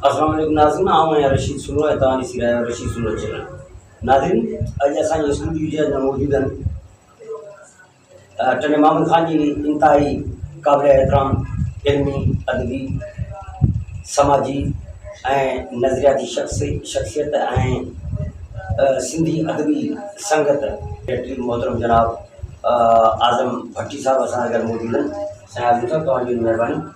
السلام عليڪم ناظرين آئون آهيان رشيد سنو ۽ توهان ڏسي رهيا آهيو رشيد سنو چينل ناظرين اڄ اسان جي اسٽوڊيو جي اندر موجود آهن ٽنڊي محمد خان جي انتهائي قابل احترام علمي ادبي سماجي ۽ نظرياتي شخص شخصيت ۽ سنڌي ادبي سنگت سيڪريٽري محترم جناب اعظم ڀٽي صاحب اسان گڏ موجود آهن سائين اعظم صاحب توهان جي مهرباني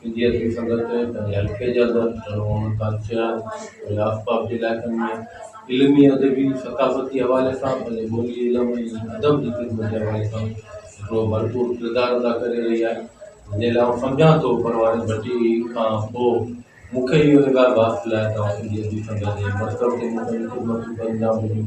سنڌي ادبي سنگت پنهنجي حلقي جي اندر ڏاڍو امن ڪانسيو آهي ۽ آس پاس جي علائقن ۾ علمي ادبي ثقافتي حوالي سان پنهنجي ٻولي علم ۽ ادب جي خدمت جي حوالي سان هڪڙو ڀرپور ڪردار ادا ڪري رهي آهي جنهن لاء آئون سمجهان ٿو پرواني ڀٽي کان پوء مون کي اهو اعزاز حاصل آهي ته آئون سنڌي ادبي سنگت جي مرڪز جي مختلف خدمتون ڪري رهيا هجون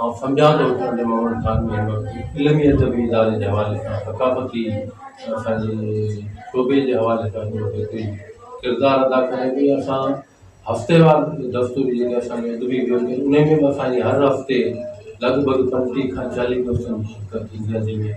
آئون سمجهان ٿو ته علي محمد خان ۾ هن وقت علمي ادبي اداري جي حوالي کان ثقافتي اسان جي شعبي جي حوالي کان جو جيڪي ڪردار ادا ڪيا آهن اهي اسان هفتي وار دستور جيڪي اسان جي ادبي ان ۾ به اسان جي هر هفتي لڳ ڀڳ پنجٽيهه کان چاليهه دوستن جي شرڪت ٿيندي آهي جنهن ۾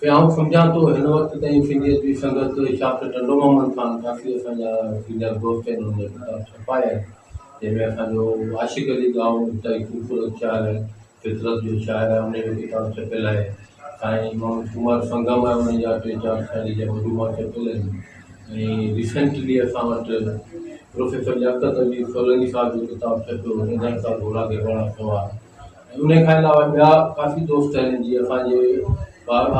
کي آئون سمجهان ٿو هن وقت تائين سنڌيت جي سنگت ڊاڪٽر ٽنڊو محمد خان ڪافي اسان جا سينيئر دوست آهن انهن جا ڪتاب ڇپايا آهن جنهن ۾ اسان جو عاشق علي ڳاهو انتهائي خوبصورت شاعر آهي فطرت جو شاعر آهي انهن جو ڪتاب ڇپيل آهي سائين محمد ڪمار سنگم آهي انهن جا ٽي چار شاعري جا مجموعا ڇپيل آهن ۽ ريسينٽلي اسان وٽ پروفيسر لياقت علي سولنگي صاحب جو ڪتاب ڇپيو هو ننڍڙ سا گهوڙا گهيواڻا سوار انهي کان علاوه ٻيا ڪافي دوست آهن جي اسان جي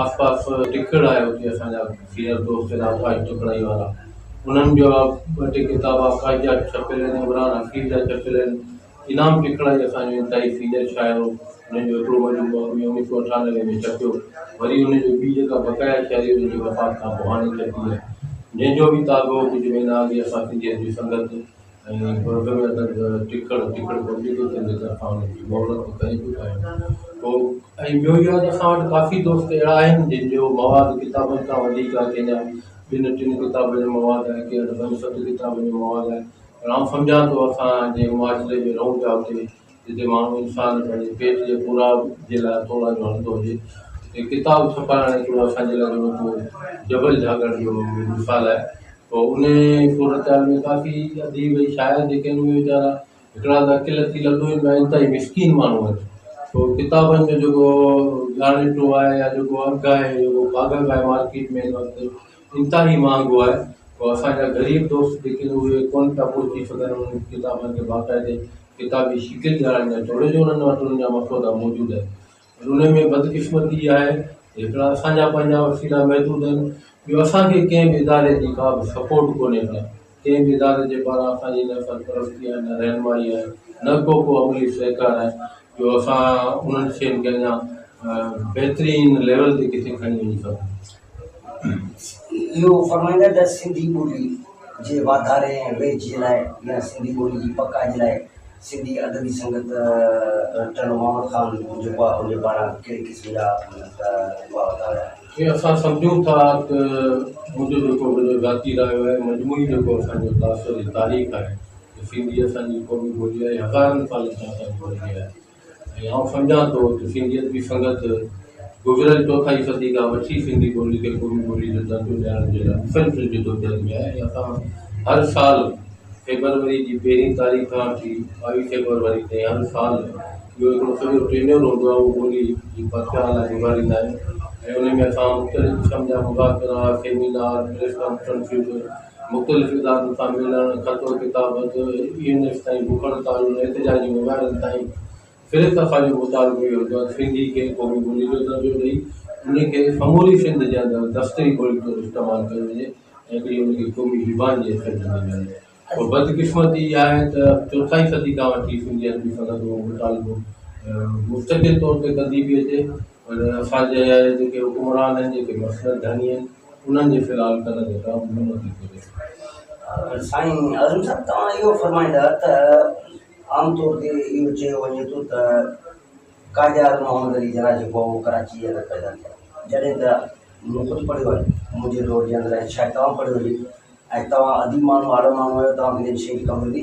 آس پاس ٽکڙ آهي اتي اسان جا سينئر دوست آهن آڪاش ٽکڙائي وارا انهن جا ٻه ٽي ڪتاب آڪاش جا ڇپيل آهن عمران حفيظ جا ڇپيل آهن انعام ٽکڙائي اسان جو انتهائي سينئر شاعر هو انهن جو هڪڙو مجموعو اڻ ويهه سؤ اٺانوي ۾ ڇپيو وري انهن جي ٻي جيڪا بقايا شاعري انهن جي وفات کان پوء هاڻي ڇپي آهي جنهن جو به تازو ڪجهه مهينا اڳي اسان سنڌيت جي سنگت ۽ بوردن جا درد ٽڪڙ ٽڪڙ بوردي ٿو ٿين جي طرفان انهن جي مهلت به ڪري ٿو پئي پوء ۽ ٻيو اهو آهي ته اسان وٽ ڪافي دوست اهڙا آهن جن جو مواد ڪتابن کان وڌيڪ آهي ڪنهن جا ٻن ٽن ڪتابن جو مواد آهي ڪنهن وٽ پنج ست ڪتابن جو مواد آهي پر آئون سمجهان ٿو اسان جنهن معاشري ۾ رهون پيا اتي جتي ماڻهو انسان پنهنجي پيٽ جي پورائ جي لاء توڙا جو هڻندو هجي اتي ڪتاب ڇپائڻ هڪڙو اسان جي لاء اونوکو جبل جهاڳڻ جو مثال آهي پوء انهي صورتحال ۾ ڪافي اديب ۽ شاعر جيڪي آهن اهي ويچارا هڪڙا ته اڪيلا ٿي لڏو آهن ٻيا انتهائي مسڪين ماڻهو آهن پوء ڪتابن جو جيڪو ڳاڻيٽو آهي يا جيڪو اگهه آهي جيڪو ڪاڳڙ آهي مارڪيٽ ۾ هن وقت انتهائي مهانگو آهي پوء اسان جا غريب دوست جيڪي آهن اهي ڪونه پيا پهچي سگهن انهن ڪتابن کي باقاعدي ڪتابي شڪل جا اڃا جوڙي جوڙن ماٽرن جا مسودا موجود آهن پر انهن ۾ بدقسمتي اها آهي ته هڪڙا اسان جا پنهنجا وسيلا محدود آهن ٻيو اسان کي ڪنهن به اداري جي ڪا به سپورٽ ڪونهي ڪا ڪنهن به اداري جي پاران اسان جي نه سرپرستي آهي نه رهنمائي آهي نه ڪو ڪو عملي سهڪار آهي جو اسان انهن شين کي اڃا بهترين ليول تي ڪٿي کڻي وڃي سگهون اهو فرمائيندا ته سنڌي ٻولي جي واڌاري ۽ ويجهي لاء يا سنڌي ٻولي جي پکاڄ لاء سنڌي ادبي سنگت رٽل محمد خان جوپا هن پاران ڪهڙي قسم جا اپاء ورتا ويا آهن؟ ۽ اسان سمجهون ٿا ته منهنجو جيڪو منهنجو ذاتي رايو آهي ۽ مجموعي جيڪو اسان جو تاثر ۽ تاريخ آهي ته سنڌي اسان جي قومي ٻولي آهي، هزارن سالن کان اسان جي ٻولي آهي. ۽ آئون سمجهان ٿو ته سنڌيت جي سنگت گذريل چوٿائي صدي کان وٺي سنڌي ٻولي کي قومي ٻولي جو درجو ڏيارڻ جي لاء مسلسل جدوجهد ۾ آهي ۽ اسان هر سال فيبروري جي پهرين تاريخ کان وٺي ٻاويهه فيبروري تائين هر سال جو هڪڙو سڄو ٽينيور هوندو آهي اهو ٻولي جي پرچار لاء گذاريندا آهيون ۽ ان ۾ اسان مختلف قسم جا مذاڪرا، سيمينار، پريس ڪانفرنسز، مختلف ادارن سان ملڻ، خط و ڪتابت، اي اين ايس تائين بکڻ تعلن ۽ احتجاجي مظاهرن تائين ڦري صفا جو مطالبو اهو هوندو آهي ته سنڌي کي قومي ٻولي جو درجو ڏئي ان کي سموري سنڌ جي اندر دفتري ٻولي طور استعمال ڪيو وڃي ۽ هڪڙي ان کي قومي زبان جي حيثيت ڏني وڃي پر بدقسمتي اها آهي ته چوٿائي صدي کان وٺي سنڌي ادبي سنگت اهو مطالبو مستقل طور تي ڪندي پئي اچي پر اسان جي جيڪي حڪمران آهن جيڪي مسلڪ ڌڻي آهن انهن جي فلحال ڪنڌ تي ڪا به نعمت نه ٿي رسي. سائين اعظم صاحب توهان اهو فرمائيندا ته عام طور تي اهو چيو وڃي ٿو ته قائداعظم محمد علي جناح جيڪو هو اهو ڪراچي جي اندر پيدا ٿيو جڏهن ته مون خود پڙهيو آهي منهنجي دور جي اندر ۽ شايد توهان پڙهيو هجي ۽ توهان اديب ماڻهو آڙو ماڻهو آهيو توهان کي جن شين جي خبر هوندي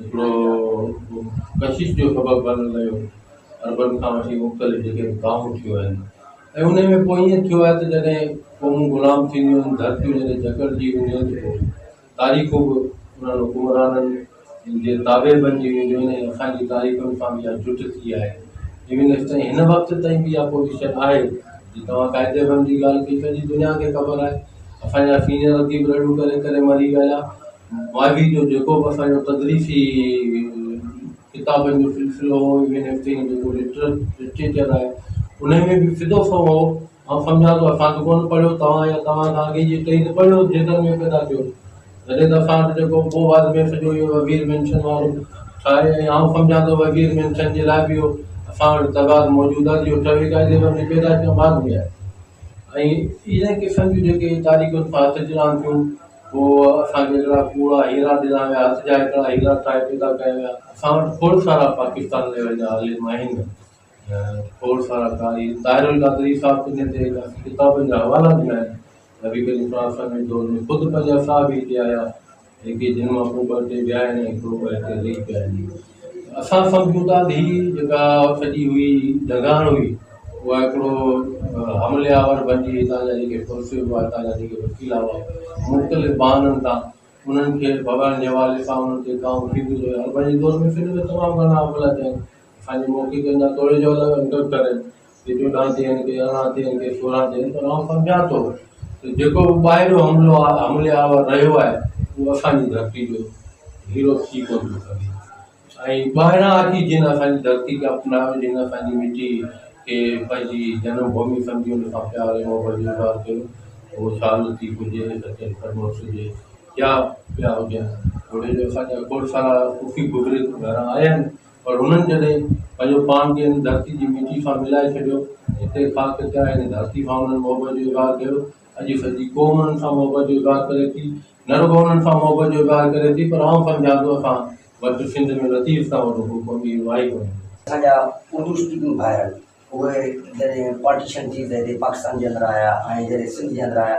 هڪڙو ڪشش جو سبب بڻڻ لڳو، عربن کان وٺي مختلف جيڪي به قائمون ٿيون آهن ۽ انهي ۾ پوء ائين ٿيو آهي ته جڏهن قومون غلام ٿينديون آهن، ڌرتيون جڏهن جڪڙجي وينديون آهن ته پوء تاريخون به انهن حڪمرانن جي تابع بنجي وينديون آهن ۽ اسان جي تاريخن سان به اها جٽ ٿي آهي. ايون ايس تائين هن وقت تائين به اها پوزيشن آهي جي توهان قائد اعظم جي ڳالهه ڪئي سڄي دنيا کي خبر آهي اسان جا سينئر اديب رڙيون ڪري ڪري مري ويا ماضي جو جيڪو به اسان جو تدريسي ڪتابن جو سلسلو هو ايون ايف سي جيڪو لٽريچر آهي ان ۾ به سڌو سنئون هو آئون سمجهان ٿو اسان ته ڪونه پڙهيو توهان يا توهان کان اڳي جي ٽئي ته پڙهيو جيڪر ۾ پيدا ٿيو تڏهن ته اسان وٽ جيڪو پوء بعد ۾ سڄو اهو وزير مينشن وارو ٺاهي ۽ آئون سمجهان ٿو وزير مينشن جي لاء به اهو اسان وٽ تضاد موجود آهي جو ٽئي قاعدي ۾ وڃي پيدا ٿيو بعد ۾ آهي ۽ ان قسم جون جيڪي تاريخ سان اچ اچ رهن ٿيون پوء اسان کي هڪڙا ڪوڙا هيرا ڏنا ويا، هٿ جا هڪڙا هيرا ٺاهي پيدا ڪيا ويا. اسان وٽ کوڙ سارا پاڪستان ليول جا عالم آهن ۽ کوڙ سارا قاري. طاهر القادري صاحب ڪنهن تي هيڏا ڪتابن جا حوالا ڏنا آهن. نبي ڪريم صلي الله عليه وسلم جي دور ۾ خود پنهنجا صحابي هتي آيا، جيڪي جن مان ڪو ٻه هتي ويا آهن ۽ ڪو ٻه هتي رهي پيا آهن. اسان سڀ جون ته اڌ هي جيڪا سڄي هئي جهڳاڻ هئي اها هڪڙو حملي آور بنجي هتان جا جيڪي پرسي هئا هتان جا جيڪي وڪيلا هئا مختلف بهانن تان انهن کي ڀڳائڻ جي حوالي سان انهن تي ڪام ٿيندو رهيو هر بنجي دور ۾ سنڌ ۾ تمام گهڻا حملا ٿيا آهن اسان جي موکي ڪن جا توڙي جو الڳ انڪرپٽر آهن ڪي چوڏهن ٿين، ڪي ارڙهن ٿين، ڪي سورهن ٿين پر آئون سمجهان ٿو ته جيڪو به ٻاهريون حملو حملي آور رهيو آهي اهو اسان جي ڌرتي جو هيرو ٿي ڪونه ٿو سگهي ۽ ٻاهران اچي جن اسان جي ڌرتي کي اپنايو جن اسان جي مٽي کي پنهنجي جنم ڀومي سمجهي ان سان پيار ۽ محبت جو اظهار ڪيو اهو شاهه لطيف هجي سچل فرموش هجي يا ٻيا هجن گهڙي جو اسان جا کوڙ سارا صوفي بزرگ گهران آيا آهن پر هنن جڏهن پنهنجو پاڻ کي هن ڌرتي جي مٽي سان ملائي ڇڏيو، هتي خاڪ تي آيل هن ڌرتي سان انهن محبت جو اظهار ڪيو. اڄ سڄي قوم انهن سان محبت جو اظهار ڪري ٿي. نه رڳو انهن سان محبت جو اظهار ڪري ٿي پر آئون سمجهان ٿو اسان وٽ سنڌ ۾ لطيف کان وڏو ڪو ڪم اهو آهي ڪونه. اسان جا اردو اسپيڪنگ ڀائر اهي جڏهن پارٽيشن ٿي ته هتي پاڪستان جي اندر آيا ۽ جڏهن سنڌ جي اندر آيا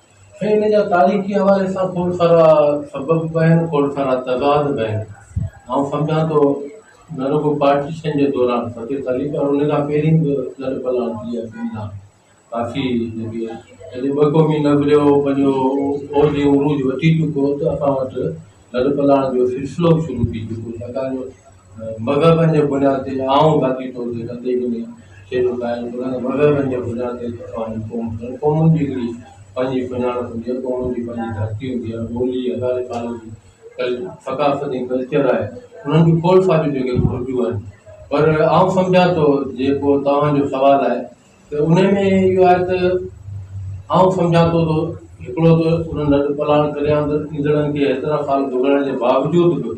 هي ان جا تاريخي حوالي سان کوڙ سارا سبب به آهن کوڙ سارا تضاد به آهن آئون سمجهان ٿو نه رڳو پارٽيشن جي دوران فتح سالي پر ان کان پهرين به لڏ پلاڻ ٿي ويا سنڌ ڏانهن ڪافي جيڪي جڏهن ٻه قومي نظريو پنهنجو اوج عروج وٺي چڪو ته اسان وٽ لڏ پلاڻ جو سلسلو به شروع ٿي چڪو ڇاڪاڻ جو مذهبن جي بنياد تي آئون ذاتي طور تي ڪتي به نه شيرو قائل ڪران، مذهبن جي بنياد تي تفاهم قوم ڪرڻ، قومن جي هڪڙي پنهنجي سڃاڻپ هوندي آهي، قومن جي پنهنجي ڌرتي هوندي آهي، ٻولي هزارين سالن جي ثقافت ۽ ڪلچر آهي، انهن جون کولسا به جيڪي گهرجون آهن پر آئون سمجهان ٿو جيڪو توهان جو سوال آهي ته ان ۾ اهو آهي ته آئون سمجهان ٿو ته هڪڙو ته انهن لڏپلاڻ ڪري آندڙ ايندڙن کي هيترا سال گذرڻ جي باوجود به